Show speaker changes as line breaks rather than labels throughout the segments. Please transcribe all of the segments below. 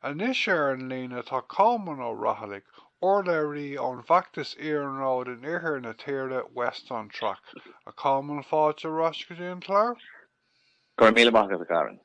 Anois ar an líne tá Colmán Ó Raghallaigh, urlabhraí ón bhfeachtas iarnróid in iarthar na tíre, West on Track. A Cholman, fáilte ar ais go dtí an clár. Go raibh
míle maith agat, a Karen.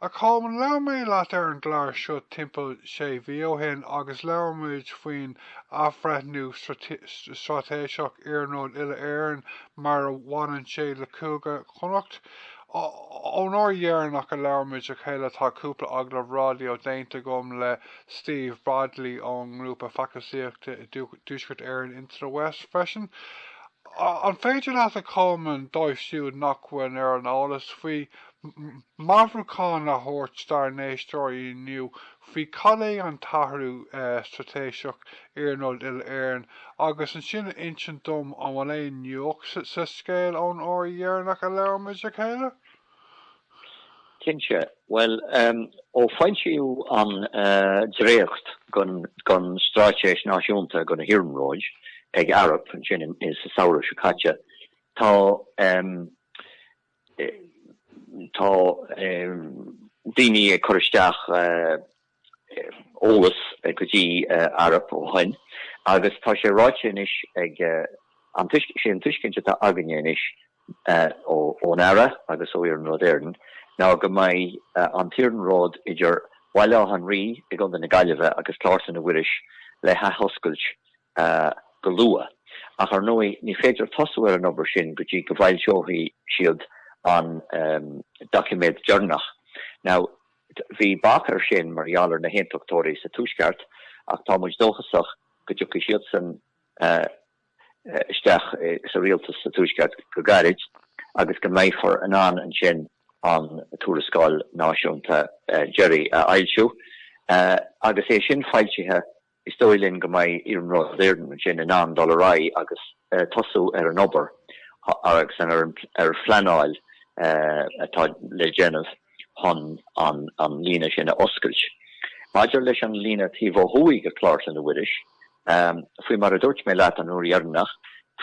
A
Cholman, labhair mé leat ar an gclár seo timpeall sé mhí ó shin agus labhair muid faoin athbhreithniú straitéiseach iarnróid uile-Éireann mar a bhaineann sé le Cúige Chonnacht. Ón uair dheireanach a labhair muid le chéile tá cúpla agallamh raidió déanta agam le Steve Bradley ón ngrúpa feachtasaíochta i dTuaisceart Éireann Into the West freisin. An féidir leat a Cholmáin dóibh siúd nach bhfuil ar an eolas faoi meabhrúchán a thabhairt dár n-éisteoirí inniu faoi cad é an t-athrú straitéiseach, iarnród uile-Éireann, agus ansin a insint dom an bhfuil aon nuacht sa scéal ón uair dheireanach a labhair muid le chéile? Cinnte.
Bhuel, ó foilsíodh an dréacht den Straitéis Náisiúnta do na hIarnróid ag Arup, ansin sa samhradh seo caite, tá. Tá daoine ag cur isteach eolas go dtí Arup ó shoin agus tá sé ráite anois ag an tuiscint, sé an tuiscint atá againne anois ón Aire agus ó Iarnród Éireann ná go mbeidh an t-iarnród idir Bhaile Átha an Rí i gContae na Gaillimhe agus Clár Chlainne Mhuiris le hathoscailt go luath, ach ar ndóigh ní féidir tosú ar an obair sin go dtí go bhfoilseoidh siad an doiciméad deireanach. Now, bhí bac ar sin mar gheall ar na hAontachtóirí sa Tuaisceart, ach tá muid dóchasach go dtiocfaidh siadsan isteach sa rialtas sa Tuaisceart go gairid agus go mbeifear in ann ansin an tuarascáil náisiúnta deiridh a fhoilsiú agus é sin foilsithe Is dóigh linn go mbeidh Iarnród Éireann ansin in ann dul ar aghaidh agus tosú ar an obair agus ar an phleanáil atá le déanamh chun an líne sin a oscailt. Maidir leis an líne taobh ó thuaidh de Chlár Chlainne Mhuiris, faoi mar a dúirt mé leat an uair dheireanach,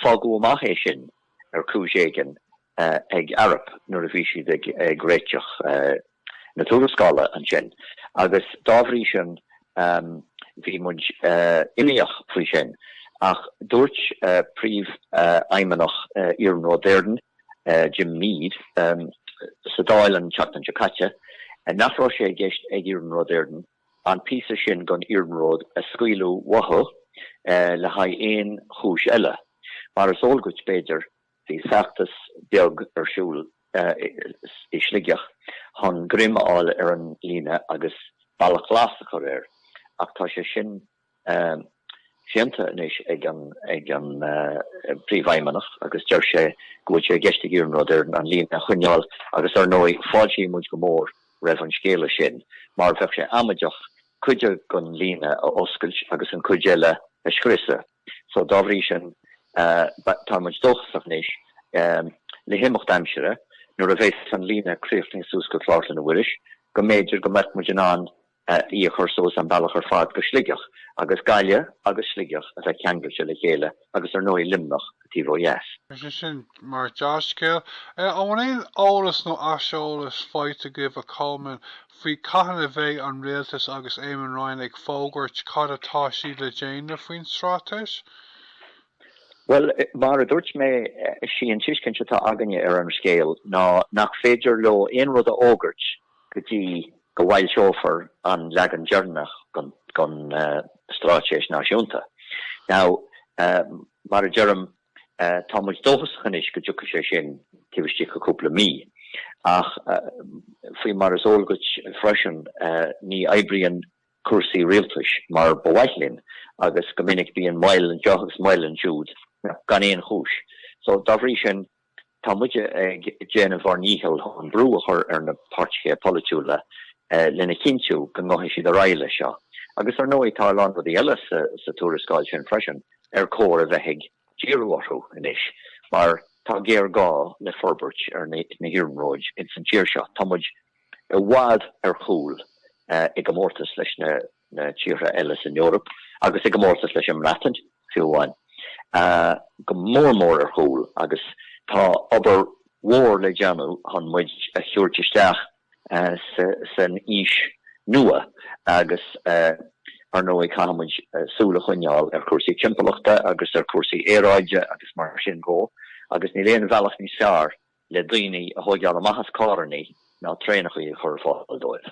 fágadh amach é sin ar chúis éigin ag Arup nuair a bhí siad ag réiteach. na tuarascála ansin agus dá bhrí sin bhí muid imníoch faoi sin ach dúirt príomhfheidhmeannach Iarnród Éireann, Jim Meade, sa Dáil an tseachtain seo caite nach raibh sé i gceist ag Iarnród Éireann an píosa sin den iarnród a scaoileadh uathu le haghaidh aon chúis eile. Mar is eol duit, b'fhéidir, Bhí feachtas beag ar siúl i Sligeach chun greim a fháil ar an líne agus bealach glas a chur air ach tá sé sin séanta anois ag an bPríomhfheidhmeannach agus deir sé go bhfuil sé i gceist ag Iarnród Éireann an líne a choinneáil agus ar ndóigh fáiltíonn muid go mór roimh an scéala sin mar bheadh sé amaideach cuid den líne a oscailt agus an chuid eile a scriosadh. So dá bhrí sin tá muid dóchasach anois le himeacht aimsire nuair a bheas an líne críochnaithe suas go Clár Chloinne Mhuiris go mb'fhéidir go mbeadh muid in ann í a chur suas an bealach ar fad go Sligeach agus Gaillimh agus Sligeach a bheith ceangailte le chéile agus ar ndóigh Luimneach taobh ó dheas. Sin
mórscéal. An bhfuil aon eolas nó aiseolas faighte agaibh, a Colman, faoi cathain a bheidh an Rialtas agus Eamon Ryan ag fógairt cad atá siad le déanamh faoin
Straitéis? Bhuel, mar a dúirt mé, sí an tuiscint atá againne ar an scéal ná nach féidir leo aon rud a fhógairt go dtí go bhfoilseofar an leagan deireanach gon Straitéis Náisiúnta. Now, mar a deirim, Tá muid dóchasach anois go dtiocfaidh sé sin taobh istigh de chúpla mí, ach faoi mar is eol duit freisin, ní oibríonn cúrsaí rialtais mar ba mhaith linn agus go minic bíonn moill anseo agus moill ansiúd gan aon chúis. So dá bhrí sin, Tá muid ag déanamh ár ndícheall chun brú a chur ar na páirtithe polaitiúla lena chinntiú go ngabhfaidh siad ar aghaidh leis seo. Agus ar ndóigh tá a lán rudaí eile sa tuarascáil sin freisin ar chóir a bheith ag díriú orthu anois mar tá géarghá le forbairt ar na hiarnróid insan tír seo. Tá muid. i bhfad ar chúl i gcomórtas leis na tíortha eile san Eoraip agus i gcomórtas leis an mBreatain fiú amháin, go mór mór ar chúl agus tá obair mhór le déanamh chun muid a thabhairt isteach san aois nua agus ar ndóigh caithfidh muid súil a choinneáil ar chúrsaí timpeallachta agus ar chúrsaí aeráide agus mar sin dhe agus níl aon bhealach níos fearr le daoine a thógáil amach as carrannaí ná traenacha a chur ar fáil dóibh.